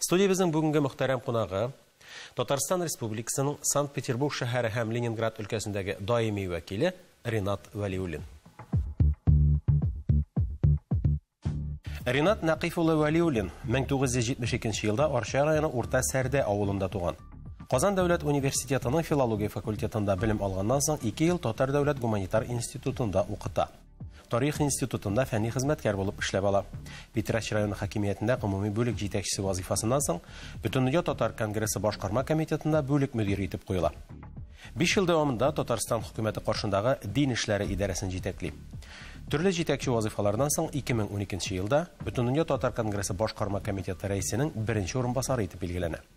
Студиябезнең бүгенге мөхтәрәм кунагы, Татарстан Республикасының Санкт-Петербург шәһәре һәм Ленинград өлкәсендәге даими вәкиле Ринат Вәлиуллин. Ринат Нәкыйф улы Вәлиуллин 1972 елда Арча районы Урта Сәрдә авылында туган. Казан дәүләт университетының филология факультетында белем алганнан соң ике ел Татар дәүләт гуманитар институтында укыта. Тарих институтында фәнни хезмәткәр булып эшләп ала. Питрәч районы хакимиятендә гомуми бүлек җитәкчесе вазыйфасыннан соң, Бөтендөнья татар конгрессы башкарма комитетында бүлек мөдире итеп куела. Биш ел дәвамында Татарстан хөкүмәте каршындагы дин эшләре идарәсен җитәкли. Төрле җитәкче вазыйфаларыннан соң 2012 елда Бөтендөнья татар конгрессы башкарма комитеты рәисенең беренче урынбасары итеп билгеләнә.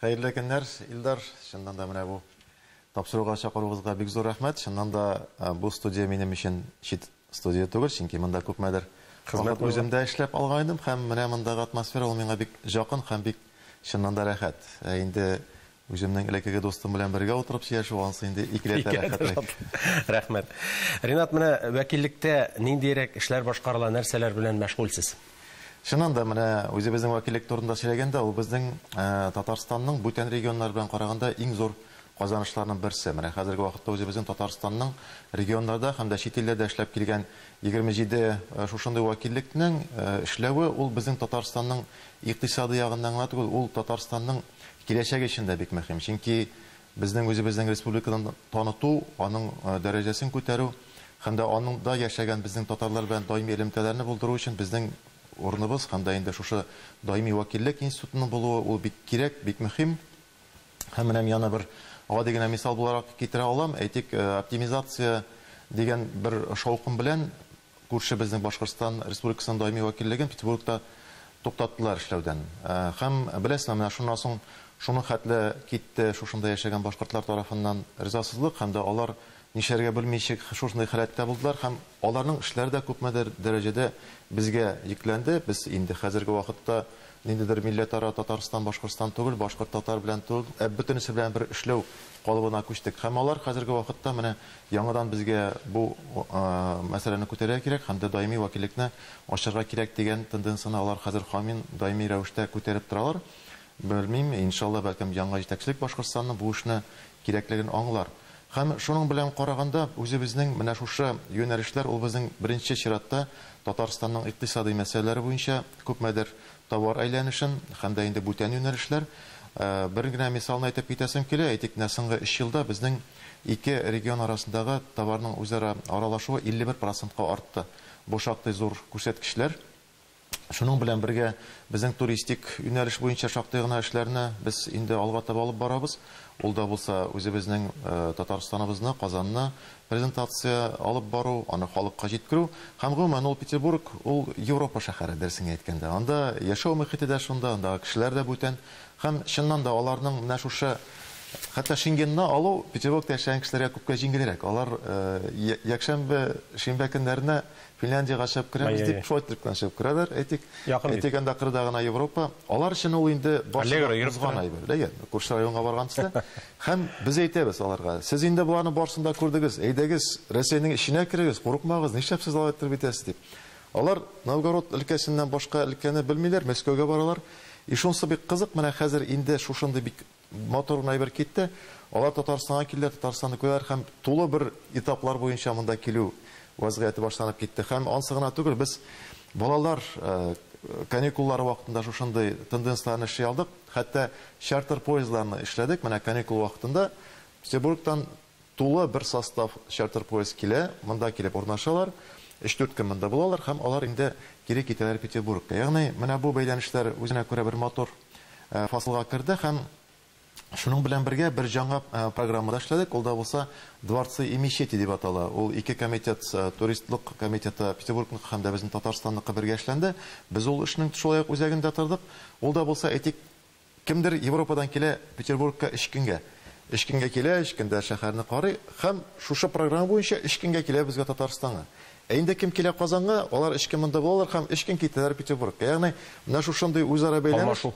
Хәерле көннәр, Илдар! Чыннан да менә бу тапшыруга чакыруыгызга бик зур рәхмәт. Чыннан да бу студия минем өчен чит студия түгел, чөнки монда күпмедер вакыт үзем дә эшләп алгайным һәм менә мондагы атмосфера ул миңа бик җакын һәм бик чыннан да рәхәт. Ә инде үземнең элеккеге дустым белән бергә утырып сөйләшү ансы инде икеләтә рәхәтлек. Рәхмәт. Ринат, менә вәкиллектә ниндиерәк эшләр башкарыла, нәрсәләр белән мәшгульсез? Чыннан да, менә үзебезнең вәкиллек турында сөйләгәндә, ул безнең Татарстанның бүтән регионнар белән караганда иң зур казанышларның берсе. Менә хәзерге вакытта үзебезнең Татарстанның регионнарда һәм дә чит илләрдә эшләп килгән 27 шушындый вәкиллекнең эшләве, ул безнең Татарстанның икътисады ягыннан гына түгел, ул Татарстанның киләчәге өчен дә бик мөһим. Чөнки безнең үзебезнең республиканы таныту, аның дәрәҗәсен күтәрү, Һәм дә анда яшәгән безнең татарлар белән даими элемтәләрне булдыру өчен безнең урыныбыз һәм дә инде шушы даими вәкиллек институтының булуы, ул бик кирәк, бик мөһим. Һәм менә мин аны бер гади генә мисал буларак китерә алам. Әйтик, оптимизация дигән бер шаукым белән күрше безнең Башкортстан Республикасының даими вәкиллеген Петербургта туктаттылар эшләүдән. Һәм, беләсезме, менә шуннан соң шуның хәтле китте шушында яшәгән башкортлар тарафыннан ризасызлык һәм дә алар Нишләргә белмичек шушындый халәттә булдылар һәм аларның эшләре дә күпмедер дәрәҗәдә безгә йөкләнде. Без инде хәзерге вакытта ниндидер милләтара Татарстан, Башкортстан түгел, башкорт татар белән түгел, ә бөтенесе белән бер эшләү калыбына күчтек. Һәм алар хәзерге вакытта менә яңадан безгә бу мәсьәләне күтәрергә кирәк һәм дә даими вәкиллекне ачарга кирәк дигән тенденцияне алар хәзер камин, даими рәвештә күтәреп торалар. Белмим, иншалла, бәлкем яңа җитәкчелек Башкортстанның бу эшне кирәклеген аңлар. Һәм шуның белән караганда, үзебезнең менә шушы юнәлешләр ул безнең беренче чиратта Татарстанның икътисадый мәсьәләләре буенча күпмедер товар әйләнешен һәм дә инде бүтән юнәлешләр. Бер генә мисалны әйтеп китәсем килә, әйтик, менә соңгы өч елда безнең ике регион арасындагы товарның үзара аралашуы 51 процентка артты. Бу шактый зур күрсәткечләр. Шуның белән бергә безнең туристик юнәлеш буенча шактый гына эшләрне без инде алга таба алып барабыз. Ул да булса үзебезнең Татарстаныбызны, Казанны презентация алып бару, аны халыкка җиткерү. Һәм гомумән ул Петербург, ул Европа шәһәре, дөресен генә әйткәндә. Анда яшәү мөхите дә шунда, андагы кешеләр дә бүтән. Һәм чыннан да аларның менә шушы, хәтта Шенгенны алу Петербургта яшәгән кешеләргә күпкә җиңелрәк. Алар якшәмбе, шимбә көннәренә Финляндиягә чыгып керәбез дип, Шойтлектан чыгып керәләр, әйтик. Якын бит. Әйтик, анда кырда гына Европа. Алар өчен ул инде барсын да узган әйбер. Дә йә, күрше районга барган төсле. Һәм без әйтәбез аларга, сез инде боларның барсын да күрдегез, әйдәгез, Рәсәйнең эченә керегез, курыкмагыз, нишләп сез алай иттереп итәсез дип. Алар Новгород өлкәсеннән башка өлкәне белмиләр, Мәскәүгә баралар. И шунысы бик кызык, менә хәзер инде шушындый бик Матур гына әйбер китте. Алар Татарстанга килделәр, Татарстанны күрәләр һәм тулы бер этаплар буенча монда килү вәзгыяте башланып китте. Һәм ансы гына түгел, без балалар каникуллары вакытында шушындый тенденцияләрне эшли алдык. Хәтта чартер поездларны эшләдек, менә каникул вакытында Петербургтан Тулы бер состав чартер-поезд килә, монда килеп урнашалар, өч-дүрт көн монда булалар һәм алар инде кире китәләр Петербургка. Ягъни, менә бу бәйләнешләр үзенә күрә бер матур фасылга керде һәм шуның белән бергә бер җаңа программа да эшләдек, ул да булса Дворцы и мечети дип атала. Ул ике комитет, туристлык комитеты Петербургныкы һәм дә безнең Татарстанныкы бергә эшләнде. Без ул эшнең шулай ук үзәгендә тордык. Ул да булса, әйтик, Кемдер Европадан килә Петербургка өч көнгә. Өч көнгә килә, өч көндә шәһәрне карый һәм шушы программа буенча өч көнгә килә безгә Татарстанга. Ә инде кем килә Казанга, алар өч көн монда булалар һәм өч көн китәләр Петербургка. Ягъни менә шушындый үзара бәйләнеш. Алмашу.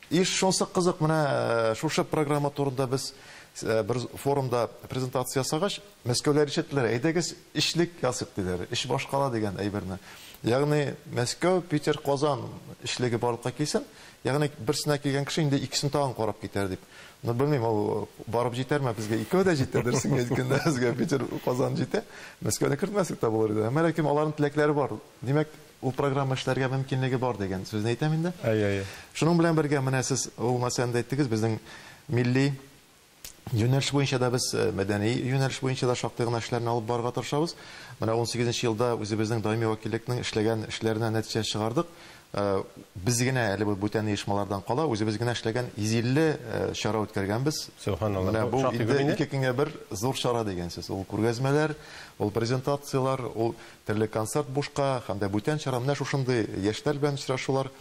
Иш, шунсы кызык, менә шушы программа турында без бер форумда презентация ясагач, Мәскәүләр ишеттеләр, әйдәгез өчлек ясыйк, диләр, өч башкала дигән әйберне. Ягъни Мәскәү, Питер, Казан өчлеге барлыкка килсен. Ягъни берсенә килгән кеше инде икесен тагын карап китәр дип. Ну, белмим, ул барып җитәрме, безгә икәү дә җитә, дөресен әйткәндә, безгә Питер, Казан җитә. Мәскәүне кертмәсәк тә булыр иде. Әмма ләкин аларның теләкләре бар. Димәк, ул программа эшләргә мөмкинлеге бар дигән сүзне әйтәм инде. Әйе, әйе. Шуның белән бергә, менә сез ул нәрсәне дә әйттегез, безнең милли Юнәлеш буенча да без, мәдәни юнәлеш буенча да шактый гына эшләрне алып барырга тырышабыз. Менә унсигез нче елда үзебезнең даими вәкиллекнең эшләгән эшләренә нәтиҗә чыгардык. Без генә әле бу бүтән оешмалардан кала, үзебез генә эшләгән 150 чара үткәргәнбез. Сөбханалла, бу шактый күп инде. Менә бу инде ике көнгә бер зур чара дигән сүз. Ул күргәзмәләр, ул презентацияләр, ул терлек концерт бушка һәм дә бүтән чара. Менә шушындый яшьләр белән очрашулар.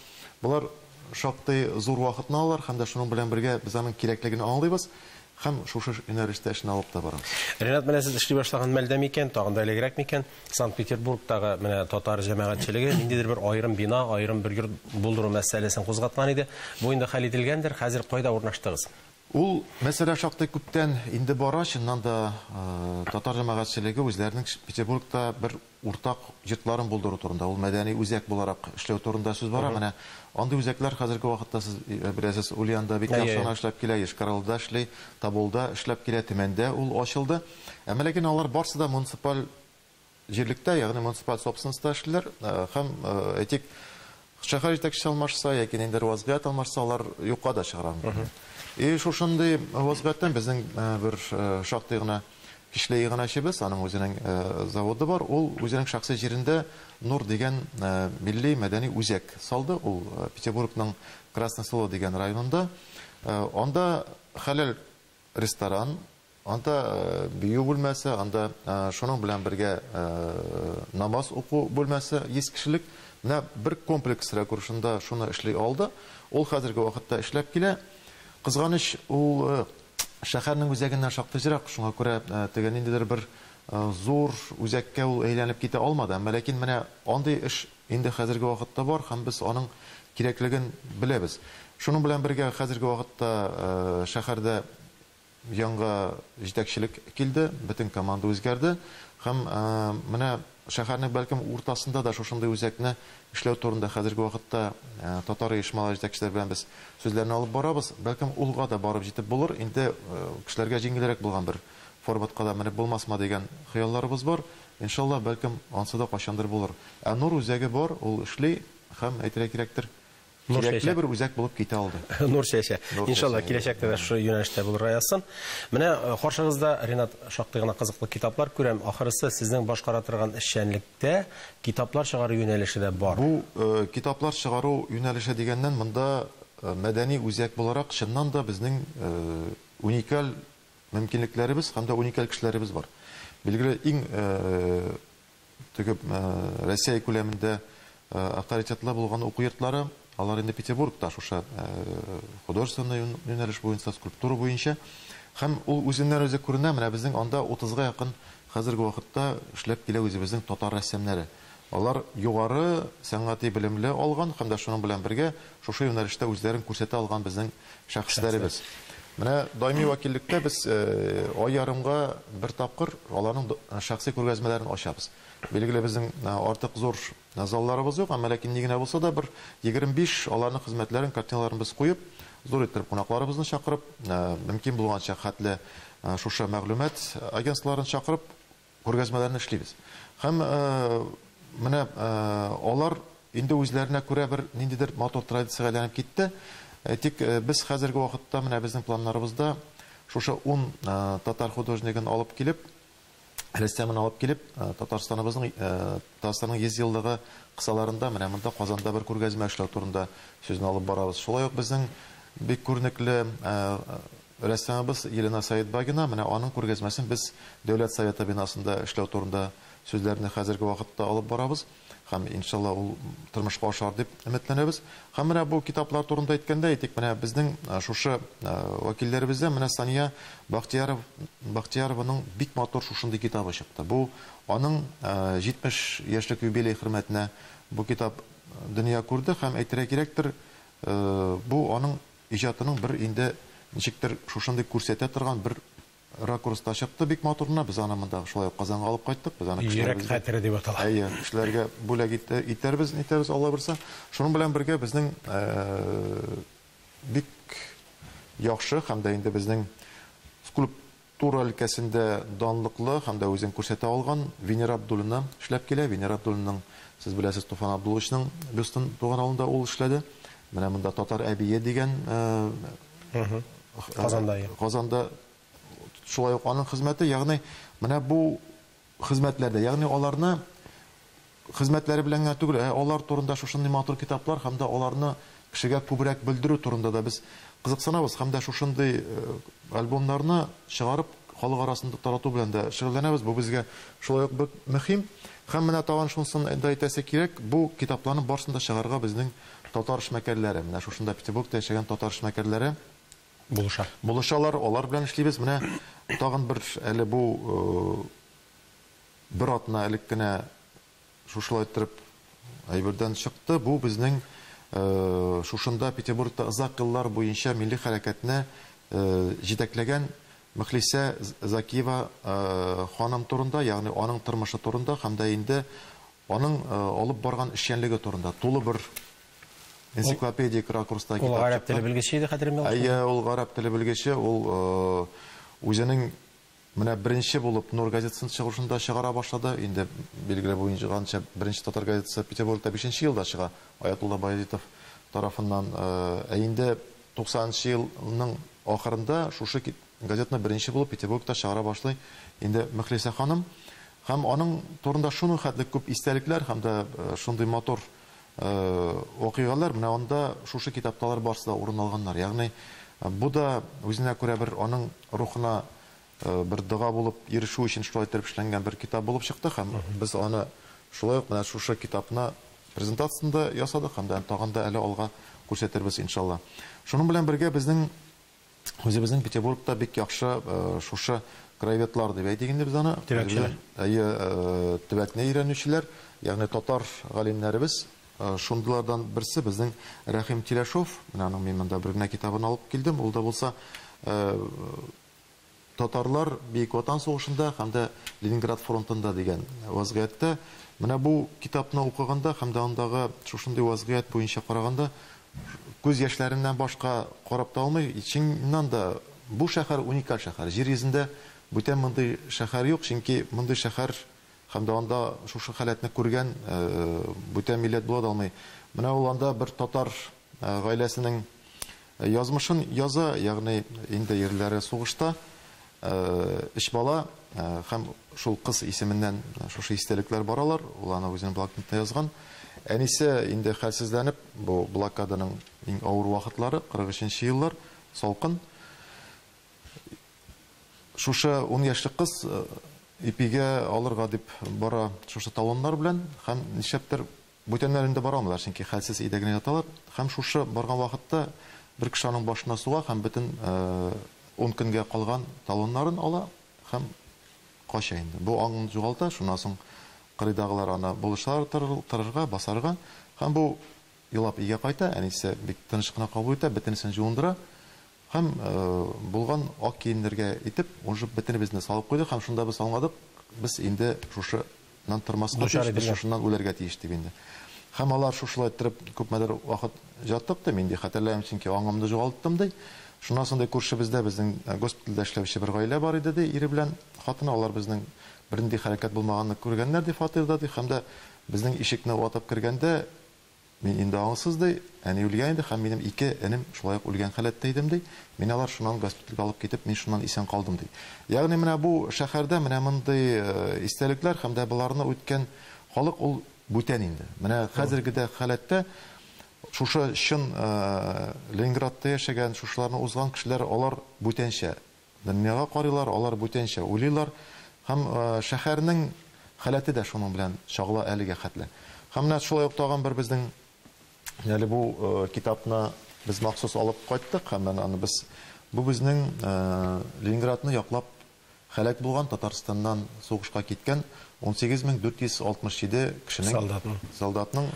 Болар шактый зур вакытны алалар һәм дә шуның белән бергә без аның кирәклеген аңлыйбыз һәм шушы юнәлештә эшне алып та барабыз. Ренат, менә сез эшли башлаган мәлдә микән, тагын да элегрәк микән, Санкт-Петербургтагы менә татар җәмәгатьчелеге ниндидер бер аерым бина, аерым бер йорт булдыру мәсьәләсен кузгаткан иде. Бу инде хәл ителгәндер, хәзер кайда урнаштыгыз? Ул мәсьәлә шактый күптән инде бара, чыннан да татар җәмәгатьчелеге үзләренең Петербургта бер уртак йортларын булдыру турында, ул мәдәни үзәк буларак эшләү турында сүз бара. Менә андый үзәкләр хәзерге вакытта, сез беләсез, Ульянда бик яхшы гына эшләп килә, Йошкар-Олда эшли, Тоболда эшләп килә, Төмәндә ул ачылды. Әмма ләкин алар барсы да муниципаль җирлектә, ягъни муниципаль собственностьта эшлиләр һәм, әйтик, Шәһәр җитәкчесе алмашса яки ниндидер вазгыять алмашса, алар юкка да чыгарга мөмкин. И шушындый вазгыятьтән безнең бер шактый гына кичле иганәчебез, аның үзенең заводы бар, ул үзенең шәхси җирендә Нур дигән милли мәдәни үзәк салды, ул Петербургның Красное Село дигән районында. Анда хәләл ресторан, Анда бию бүлмәсе, анда шуның белән бергә намаз уку бүлмәсе 100 кешелек. Менә бер комплекс рәкур шунда шуны эшли алды. Ул хәзерге вакытта эшләп килә. Кызганыч, ул шәһәрнең үзәгеннән шактый зирак, шуңа күрә теге ниндидер бер зур үзәккә ул әйләнеп китә алмады. Әмма ләкин менә андый эш инде хәзерге вакытта бар һәм без аның кирәклеген беләбез. Шуның белән бергә хәзерге вакытта шәһәрдә Яңа җитәкчелек килде, бөтен команда үзгәрде һәм менә шәһәрнең бәлкем уртасында да шушындый үзәкне эшләү турында хәзерге вакытта татар оешмалары җитәкчеләре белән без сүзләрне алып барабыз. Бәлкем улга да барып җитеп булыр, инде кешеләргә җиңелрәк булган бер форматка да менеп булмасмы дигән хыялларыбыз бар. Иншалла, бәлкем ансы да кайчандыр булыр. Ә Нур үзәге бар, ул эшли һәм әйтергә кирәктер, Нур чәчә. Кирәкле бер үзәк булып китә алды. Нур чәчә. Нур Иншалла, чәчә, киләчәктә дә шушы юнәлештә булырга язсын. Менә э, каршыгызда, Ренат, шактый гына кызыклы китаплар күрәм. Ахрысы, сезнең башкара торган эшчәнлектә китаплар чыгару юнәлеше дә бар. Бу э, китаплар чыгару юнәлеше дигәннән, монда э, мәдәни үзәк буларак, чыннан да безнең э, уникаль мөмкинлекләребез һәм дә уникаль кешеләребез бар. Билгеле, иң э, Теге Россия күләмендә авторитетлы булган уку йортлары, алар инде Петербургта шушы художественный юнәлеш буенча, скульптура буенча. Һәм ул үзеннән-үзе күренә, менә безнең анда 30 га якын хәзерге вакытта эшләп килә үзебезнең татар рәссамнары. Алар югары сәнгати белемле алган һәм дә шуның белән бергә шушы юнәлештә үзләрен күрсәтә алган безнең Шәхесләребез. Менә даими вәкиллектә без ай ярымга бер тапкыр аларның шәхси күргәзмәләрен ачабыз. Билгеле безнең артык зур залларыбыз юк, әмма ләкин ни генә булса да бер 25 аларның хезмәтләрен, картиналарын без куеп, зур иттереп кунакларыбызны чакырып, мөмкин булганча хәтле шушы мәгълүмат агентстволарын чакырып, Күргәзмәләрне эшлибез. Һәм менә алар инде үзләренә күрә бер ниндидер матур традициягә әйләнеп китте. Тик без хәзерге вакытта менә безнең планнарыбызда шушы ун татар художнигын алып килеп, рәссамын алып килеп, Татарстаныбызның, Татарстанның 100 еллыгы кысаларында менә монда Казанда бер күргәзмә эшләү турында сүзне алып барабыз. Шулай ук безнең бик күренекле Рәссамыбыз Елена Сәетбагина менә аның күргәзмәсен без Дәүләт Советы бинасында эшләү турында сүзләрне хәзерге вакытта алып барабыз һәм, иншалла, ул тормышка ашар дип өметләнәбез. Һәм менә бу китаплар турында әйткәндә, әйтик, менә безнең шушы вәкилләребездән менә Сания Бахтияров Бахтиярованың бик матур шушындый китабы чыкты. Бу аның 70 яшьлек юбилее хөрмәтенә бу китап дөнья күрде һәм, әйтергә кирәктер, бу аның Иҗатының бер инде ничектер шушындый күрсәтә торган бер ракурста чыкты бик матур гына, без аны монда шулай ук Казанга алып кайттык, без аны Йөрәк хәтере дип атала. Әйе, кешеләргә бүләк итәрбез, нитәрбез Алла боерса. Шуның белән бергә безнең бик яхшы һәм дә инде безнең скульп Тура өлкәсендә данлыклы һәм дә үзен күрсәтә алган Венера Абдуллина эшләп килә. Венера Абдуллинаның, сез беләсез, Туфан Абдулловичның Бөстен туган авылында ул эшләде. Менә монда Татар әбие дигән Казанда шулай ук аның хезмәте, ягъни менә бу хезмәтләрдә, ягъни аларны хезмәтләре белән генә түгел, ә алар турында шушындый матур китаплар һәм дә аларны кешегә күбрәк белдерү турында да без кызыксынабыз һәм дә шушындый альбомнарны чыгарып, халык арасында тарату белән дә шөгыльләнәбез, бу безгә шулай ук бик мөһим. Һәм менә тагын шунысын да әйтәсе кирәк, бу китапларның барысын да чыгарырга безнең татар эшмәкәрләре, менә шушында Петербургта яшәгән татар эшмәкәрләре Булыша. Булышалар, алар белән эшлибез. Менә тагын бер әле бу бер атна элек кенә шушылай иттереп әйбердән чыкты. Бу безнең шушында Петербургта озак еллар буенча милли хәрәкәтне җитәкләгән Мөхлисә Закиева ханым турында, ягъни аның тормышы турында һәм дә инде аның алып барган эшчәнлеге турында тулы бер Энциклопедик ракурста китап чыкты. Ул гарәп теле белгече иде, хәтеремдә булса. Әйе, ул гарәп теле белгече, ул үзенең менә беренче булып Нур газетасын чыгышында чыгара башлады. Инде билгеле булганча, беренче татар газетасы Петербургта 5 елда чыга, Аятулла Баязитов тарафыннан. Ә инде 90 нчы елның ахырында шушы газетаны беренче булып Петербургта чыгара башлый инде Мөхлисә ханым. Һәм аның турында шуның хәтле күп истәлекләр һәм дә шундый матур вакыйгалар менә анда шушы китапталар барсы да урын алганнар. Ягъни бу да үзенә күрә бер аның рухына бер дога булып ирешү өчен шулай итеп эшләнгән бер китап булып чыкты һәм без аны шулай ук менә шушы китапны презентациясендә ясадык һәм дә тагын да әле алга күрсәтербез иншалла. Шуның белән бергә безнең Үзебезнең Петербургта бик яхшы шушы краеведлар дип әйтик инде без аны. Төбәкчеләр. Әйе, төбәкне өйрәнүчеләр, ягъни татар галимнәребез. Шундыйлардан берсе безнең Рәхим Тиләшов. Менә аның мин монда бер генә китабын алып килдем. Ул да булса Татарлар Бөек Ватан сугышында һәм дә Ленинград фронтында дигән вазгыятьтә. Менә бу китапны укыганда һәм дә андагы шушындый вазгыять буенча караганда, күз яшьләреннән башка карап та алмый. Чыннан да, бу шәһәр уникаль шәһәр. Җир йөзендә бүтән мондый шәһәр юк, чөнки мондый шәһәр һәм дә анда шушы халәтне күргән бүтән милләт була да алмый. Менә ул анда бер татар гаиләсенең Язмышын яза, ягъни инде ирләре сугышта, өч бала һәм шул кыз исеменнән шушы истәлекләр баралар, ул аны үзенең блокнотына язган. Әнисе инде хәлсезләнеп, бу блокаданың иң авыр вакытлары, 43 нче еллар, салкын. Шушы ун яшьлек кыз ипигә алырга дип бара шушы талоннар белән һәм нишләптер Бүтәннәр инде бара алмыйлар, чөнки хәлсез өйдә генә яталар. Һәм шушы барган вакытта бер кеше аның башына суга һәм бөтен ун көнгә калган талоннарын ала һәм кача инде. Бу аңын югалта, шуннан соң кырыйдагылар аны булышалар торырга, басарга. Һәм бу елап өйгә кайта, әнисе бик тыныч кына кабул итә, бөтенесен җуындыра, Һәм булган ак киемнәргә итеп уже бөтенебезне салып куйдык һәм шунда без аңладык, без инде шушы нан тормаска тиеш, без шушыннан үләргә тиеш дип инде. Һәм алар шушылай торып күпмедер вакыт ятык ди, мин ди хәтерләмим, чөнки аңымны жогалттым ди. Шуннан соң ди күршебездә безнең госпитальдә эшләүче бер гаилә бар иде ди, ире белән хатыны, алар безнең бернинди хәрәкәт булмаганны күргәннәр ди фатирда ди һәм дә безнең ишекне ватып кергәндә, Мин инде аңсыз, ди, әни үлгән иде һәм минем ике энем шулай ук үлгән халәттә идем, ди. Мине алар шуннан госпитальгә алып китеп, мин шуннан исән калдым, ди. Ягъни менә бу шәһәрдә менә мондый истәлекләр һәм дә боларны үткән халык ул бүтән инде. Менә хәзерге дә халәттә шушы чын Ленинградта яшәгән, шушыларны узган кешеләр алар бүтәнчә. Дөньяга карыйлар, алар бүтәнчә уйлыйлар. Һәм шәһәрнең халәте дә шуның белән чагыла әлегә хәтле. Һәм менә шулай ук тагын бер безнең әле бу китапны без махсус алып кайттык һәм менә аны без бу безнең Ленинградны яклап һәлак булган, Татарстаннан сугышка киткән 18467 кешенең, солдатның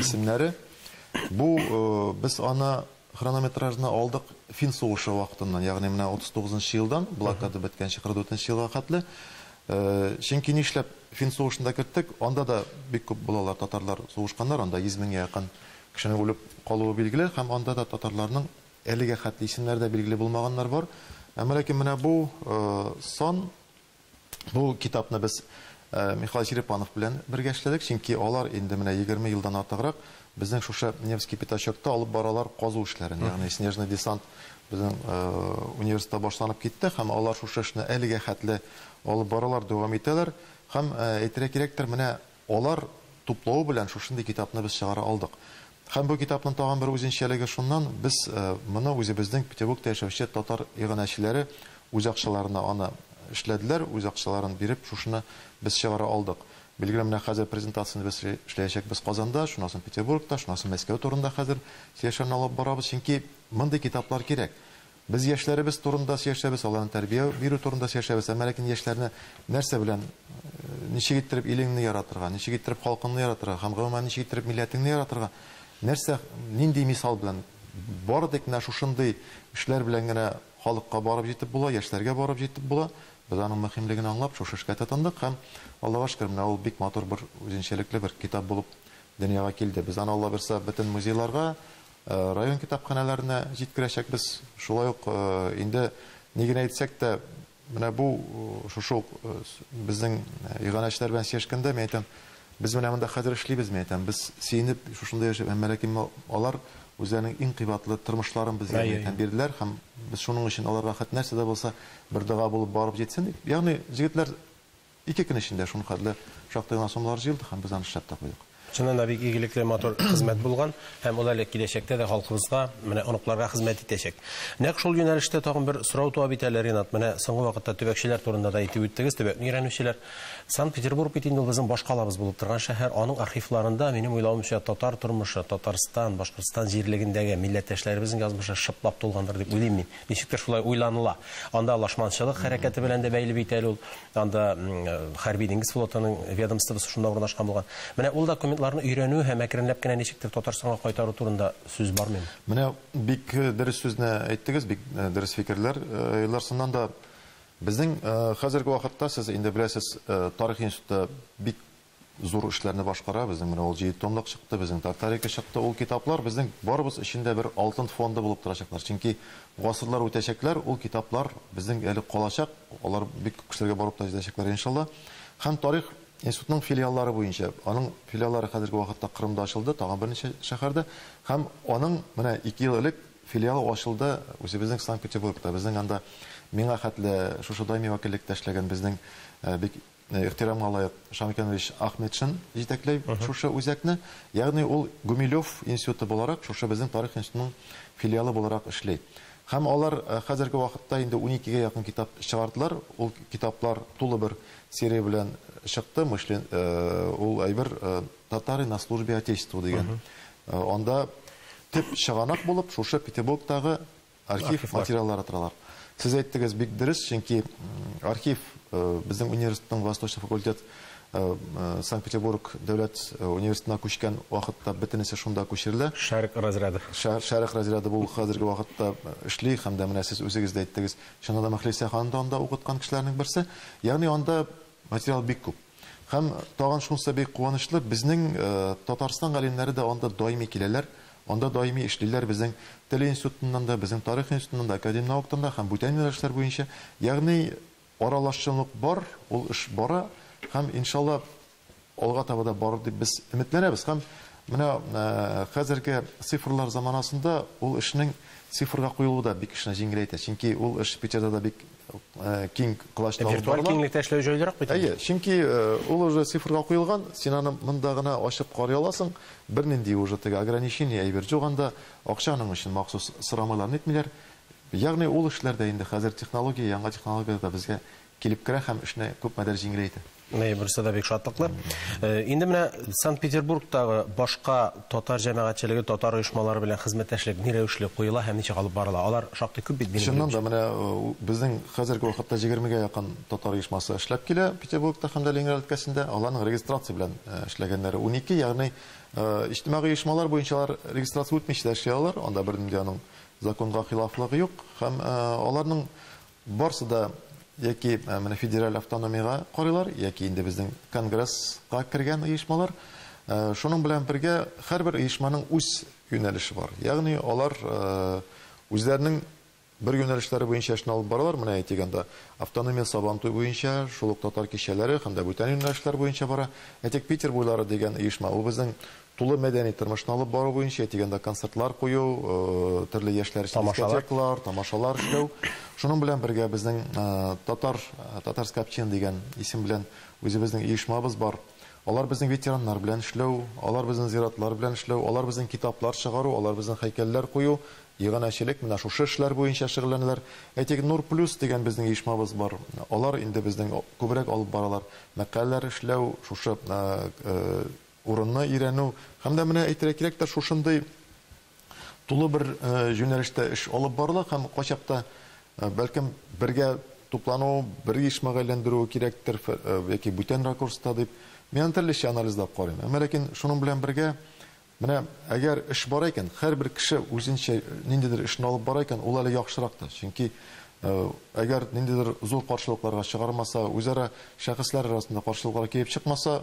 исемнәре. Бу без аны Хронометражны алдык Фин сугышы вакытыннан, ягъни менә 39 нчы елдан блокада беткәнче 44 нче елга хәтле. Чөнки нишләп Фин сугышын да керттек, анда да бик күп балалар, татарлар сугышканнар, анда 100 меңгә якын кешенең үлеп калуы билгеле һәм анда да татарларның әлегә хәтле исемнәре дә билгеле булмаганнар бар. Әмма ләкин менә бу сан Бу китапны без Михаил Черепанов белән бергә эшләдек, чөнки алар инде менә егерме елдан артыграк безнең шушы Невский пятачокта алып баралар казу эшләрен. Ягъни снежный десант безнең университетта башланып китте һәм алар шушы эшне әлегә хәтле алып баралар, дәвам итәләр. Һәм әйтергә кирәктер, менә Алар туплавы белән шушындый китапны без чыгара алдык. Һәм бу китапның тагын бер үзенчәлеге шуннан, без моны үзебезнең Петербургта яшәүче татар иганәчеләре үз акчаларына аны эшләделәр, үз акчаларын биреп шушыны без чыгара алдык. Билгеле, менә хәзер презентацияне без эшләячәкбез Казанда, шуннан соң Петербургта, шуннан соң Мәскәү турында хәзер сөйләшүләрне алып барабыз, чөнки мондый китаплар кирәк. Без яшьләребез турында сөйләшәбез, аларны тәрбия бирү турында сөйләшәбез, әмма ләкин яшьләрне нәрсә белән, ничек иттереп илеңне яратырга, ничек иттереп халкыңны яратырга һәм, гомумән, ничек иттереп милләтеңне яратырга, нәрсә, нинди мисал белән, бары тик менә шушындый эшләр белән генә халыкка барып җитеп була, яшьләргә барып җитеп була. Без аның мөһимлеген аңлап, шушы эшкә тотындык һәм, Аллага шөкер, менә ул бик матур бер үзенчәлекле бер китап булып дөньяга килде. Без аны, Аллабирса, бөтен музейларга, Район китапханәләренә җиткерәчәкбез. Шулай ук инде ни генә әйтсәк тә, менә бу шушы ук безнең иганәчеләр белән сөйләшкәндә мин әйтәм, без менә монда хәзер эшлибез, мин әйтәм, без сөенеп шушында яшәп, әмма ләкин алар үзләренең иң кыйбатлы тормышларын безгә, мин әйтәм, бирделәр һәм без шуның өчен аларга хәт нәрсә дә булса бер дога булып барып җитсен дип. Ягъни җегетләр Ике көн эчендә шул хәтле шактый гына суммалар җыелды һәм без аны эшләп тә куйдык. Чыннан да бик игелекле, матур хезмәт булган һәм ул әле киләчәктә дә халкыбызга, менә оныкларга хезмәт итәчәк. Нәкъ шул юнәлештә тагын бер сорау туа бит әле, Ринат. Менә соңгы вакытта төбәкчеләр турында да әйтеп үттегез, төбәкне өйрәнүчеләр. Санкт-Петербург бит инде ул безнең баш калабыз булып торган шәһәр. Аның архивларында, минем уйлавымча, татар тормышы, Татарстан, Башкортстан җирлегендәге милләттәшләребезнең язмышы шыплап тулгандыр дип уйлыйм мин. Ничектер шулай уйланыла. Анда лашманчылык хәрәкәте белән дә бәйле бит әле ул. Анда хәрби диңгез флотының ведомствосы шунда урнашкан булган. Менә ул документларны өйрәнү һәм әкренләп кенә ничектер Татарстанга кайтару турында сүз бармыймы? Менә бик дөрес сүзне әйттегез, бик дөрес фикерләр. Илдар, чыннан да, безнең хәзерге вакытта, сез инде беләсез, тарих институты бик Зур эшләрне башкара, безнең менә ул җиде томлык чыкты, безнең Тартарика чыкты. Ул китаплар безнең барыбыз өчен дә бер алтын фонды булып торачаклар. Чөнки гасырлар үтәчәкләр, ул китаплар безнең әле калачак, алар бик күп кешеләргә барып та җитәчәкләр, иншалла. Һәм тарих институтының филиаллары буенча, аның филиаллары хәзерге вакытта Кырымда ачылды, тагын берничә шәһәрдә. Һәм аның менә ике ел элек филиалы ачылды үзебезнең Санкт-Петербургта. Безнең анда миңа хәтле шушы даими вәкиллектә эшләгән безнең бик Ихтирамга лаек Шамиканович Ахметшин җитәкләй шушы үзәкне. Ягъни ул Гумилев институты буларак шушы безнең Тарих институтының филиалы буларак эшли. Һәм алар хәзерге вакытта инде уникегә якын китап чыгардылар. Ул китаплар тулы бер серия белән чыкты. Мышлен, ул әйбер Татары на службе Отечеству дигән. Анда төп чыганак булып шушы Петербургтагы Архив материаллары торалар. Сез әйттегез, бик дөрес, чөнки архив безнең университетның Восточный факультет Санкт-Петербург дәүләт университетына күчкән вакытта бөтенесе шунда күчерелә. Шәрык разряды. Шәрык разряды бу хәзерге вакытта эшли һәм дә менә сез үзегез дә әйттегез, чыннан да Мөхлисә ханым да анда укыткан кешеләрнең берсе. Ягъни анда Материал бик күп. Һәм тагын шунысы бик куанычлы, безнең Татарстан галимнәре дә анда даими киләләр, анда даими эшлиләр, безнең Тел институтыннан да, безнең Тарих институтыннан да, Академнауктан да һәм бүтән юнәлешләр буенча. Ягъни аралашчанлык бар, ул эш бара һәм, иншалла, Алга таба да барыр дип без өметләнәбез һәм менә хәзерге цифрлар заманасында ул эшнең цифрга куелуы да бик эшне җиңеләйтә, чөнки ул эш Питерда да бик киң колачта алып барыла. Виртуаль киңлектә эшләү җайлырак бит инде. Әйе, чөнки ул уже цифрга куелган, син аны монда гына ачып карый аласың, бернинди уже теге ограничение, әйбер җук анда, акча аның өчен махсус сорамыйлар, нитмиләр. Ягъни ул эшләр дә инде хәзер технология, яңа технологияләр дә безгә килеп керә һәм эшне күпмедер җиңеләйтә. Менә берсе дә бик шатлыклы. Инде менә Санкт-Петербургтагы башка татар җәмәгатьчелеге, татар оешмалары белән хезмәттәшлек ни рәвешле куела һәм ничек алып барыла? Алар шактый күп бит минем белүемчә. Чыннан да, менә безнең хәзерге вакытта егермегә якын татар оешмасы эшләп килә Петербургта һәм дә Ленинград өлкәсендә. Аларның регистрация белән эшләгәннәре унике, ягъни иҗтимагый оешмалар буенча алар регистрация үтмичә дә эшли алалар, анда бернинди аның законга хилафлыгы юк. Һәм аларның Барсы да яки менә федераль автономиягә карыйлар, яки инде безнең Конгресска кергән оешмалар. Шуның белән бергә һәрбер оешманың үз юнәлеше бар. Ягъни алар үзләренең бер юнәлешләре буенча эшне алып баралар. Менә әйтик анда автономия Сабантуй буенча, шул ук татар кичәләре һәм дә бүтән юнәлешләр буенча бара. Әйтик, Питер буйлары дигән оешма, ул безнең Тулы мәдәни тормышны алып бару буенча, әйтегәндә концертлар кую, төрле яшьләр өчен дискотеклар, тамашалар эшләү. Шуның белән бергә безнең Татар, Татарская община дигән исем белән үзебезнең оешмабыз бар. Алар безнең ветераннар белән эшләү, алар безнең зиратлар белән эшләү, алар безнең китаплар чыгару, алар безнең һәйкәлләр кую, иганәчелек, менә шушы эшләр буенча шөгыльләнәләр. Әйтик, Нур плюс дигән безнең оешмабыз бар. Алар инде безнең күбрәк алып баралар. Мәкаләләр эшләү, шушы урынны өйрәнү һәм дә менә әйтергә кирәк тә шушындый тулы бер юнәлештә эш алып барыла һәм кайчакта бәлкем бергә туплану, бер оешмага әйләндерүе кирәктер яки бүтән ракурста дип, мин аны төрлечә анализлап карыйм. Әмма ләкин шуның белән бергә менә әгәр эш бар икән, һәрбер кеше үзенчә ниндидер эшне алып бара икән, ул әле яхшырак та. Чөнки әгәр ниндидер зур каршылыкларга чыгармаса, үзара шәхесләр арасында каршылыклар килеп чыкмаса,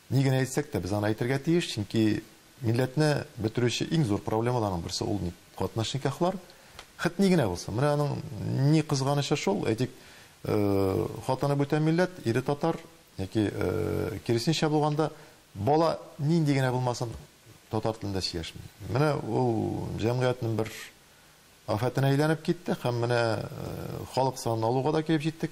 Ни генә әйтсәк тә, без аны әйтергә тиеш, чөнки милләтне бетерүче иң зур проблемаларның берсе ул ник катнаш никахлар. Хет ни генә булсын. Менә аның ни кызганычы шул, әйтик, хатыны бүтән милләт, ире татар, яки киресенчә булганда, бала нинди генә булмасын, татар телендә сөйләшми. Менә ул җәмгыятьнең бер афәтенә әйләнеп китте һәм менә халык санын алуга да килеп җиттек.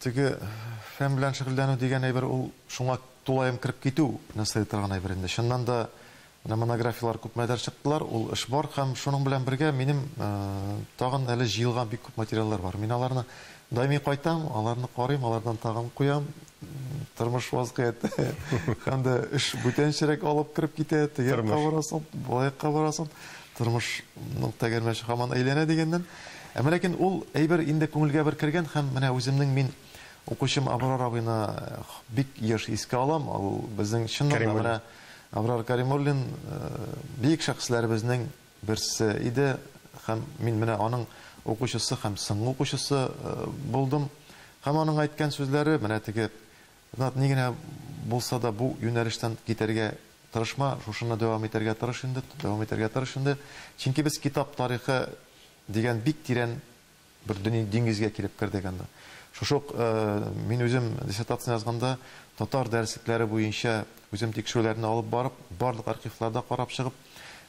Теге фән белән шөгыльләнү дигән әйбер ул шуңа тулаем кереп китү не сыя торган әйбер инде. Чыннан да, менә монографияләр күпмедер чыктылар, ул эш бар һәм шуның белән бергә минем тагын әле җыелган бик күп материаллар бар. Мин аларны даими кайтам, аларны карыйм, алардан тагын куям. Тормыш вазгыяте һәм дә эш бүтәнчерәк алып кереп китә, теге якка барасың, бу якка барасың. Тормышның тәгәрмәче һаман әйләнә дигәннән. Әмма ләкин ул әйбер инде күңелгә бер кергән һәм менә үземнең мин укучым Абрар абыйны бик еш искә алам. Ул безнең чыннан да менә Абрар Кәримуллин бөек шәхесләребезнең берсе иде һәм мин менә аның укучысы һәм соңгы укучысы булдым. Һәм аның әйткән сүзләре, менә теге Ринат, ни генә булса да бу юнәлештән китәргә тырышма, шушыннан дәвам итәргә тырыш инде, дәвам итәргә тырыш инде. Чөнки без китап тарихы дигән бик тирән бер дөньи диңгезгә килеп кердек анда. Шушы ук мин үзем диссертацияне язганда татар дәреслекләре буенча үзем тикшерүләрне алып барып, барлык архивларда карап чыгып,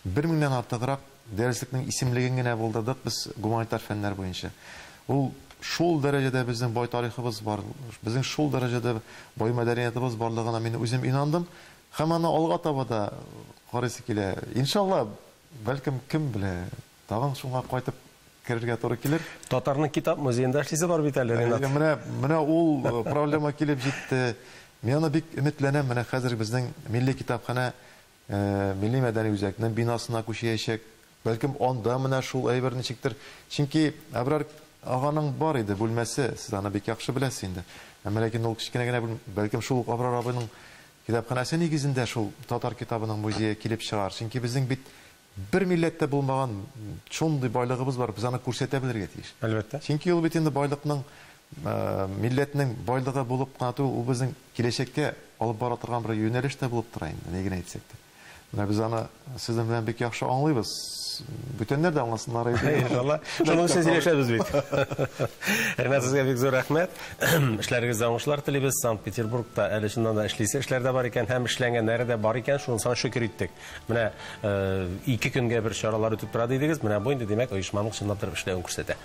бер меңнән артыграк Дәреслекнең исемлеген генә булдырдык без гуманитар фәннәр буенча. Ул шул дәрәҗәдә безнең бай тарихыбыз бар, безнең шул дәрәҗәдә бай мәдәниятыбыз барлыгына мин үзем инандым һәм аны алга таба да карыйсы килә. Иншалла, бәлкем, кем белә, тагын шуңа кайтып керергә туры килер. Татарның китап музеенда эшлисе бар бит әле, Ренат. Менә, менә ул проблема килеп җитте. Мин аны бик өметләнәм, менә хәзер безнең милли китапханә Милли-мәдәни үзәкнең бинасына күчеячәк. Бәлкем, анда менә шул әйбер ничектер. Чөнки Әбрар аганың бар иде бүлмәсе, сез аны бик яхшы беләсез инде. Әмма ләкин ул кечкенә генә бүлмә. Бәлкем, шул ук Абрар абыйның китапханәсе нигезендә шул татар китабының музее килеп чыгар. Чөнки безнең бит бер милләттә булмаган шундый байлыгыбыз бар, без аны күрсәтә белергә тиеш. Әлбәттә. Чөнки ул бит инде байлыкның Милләтнең байлыгы булып кына түгел, ул безнең киләчәккә алып бара торган бер юнәлеш тә булып тора инде, ни генә әйтсәк тә. Менә без аны сезнең белән бик яхшы аңлыйбыз. Бүтәннәр дә аңласыннар иде. Иншалла. Шуның өчен сөйләшәбез бит. Ринат, сезгә бик зур рәхмәт. Эшләрегездә уңышлар телибез. Санкт-Петербургта әле чыннан да эшлисе эшләр дә бар икән һәм эшләнгәннәре дә бар икән, шуны саң шөкер иттек. Менә ике көнгә бер чаралар үтеп тора дидегез, менә бу инде, димәк, оешманың чынлап та эшләвен күрсәтә.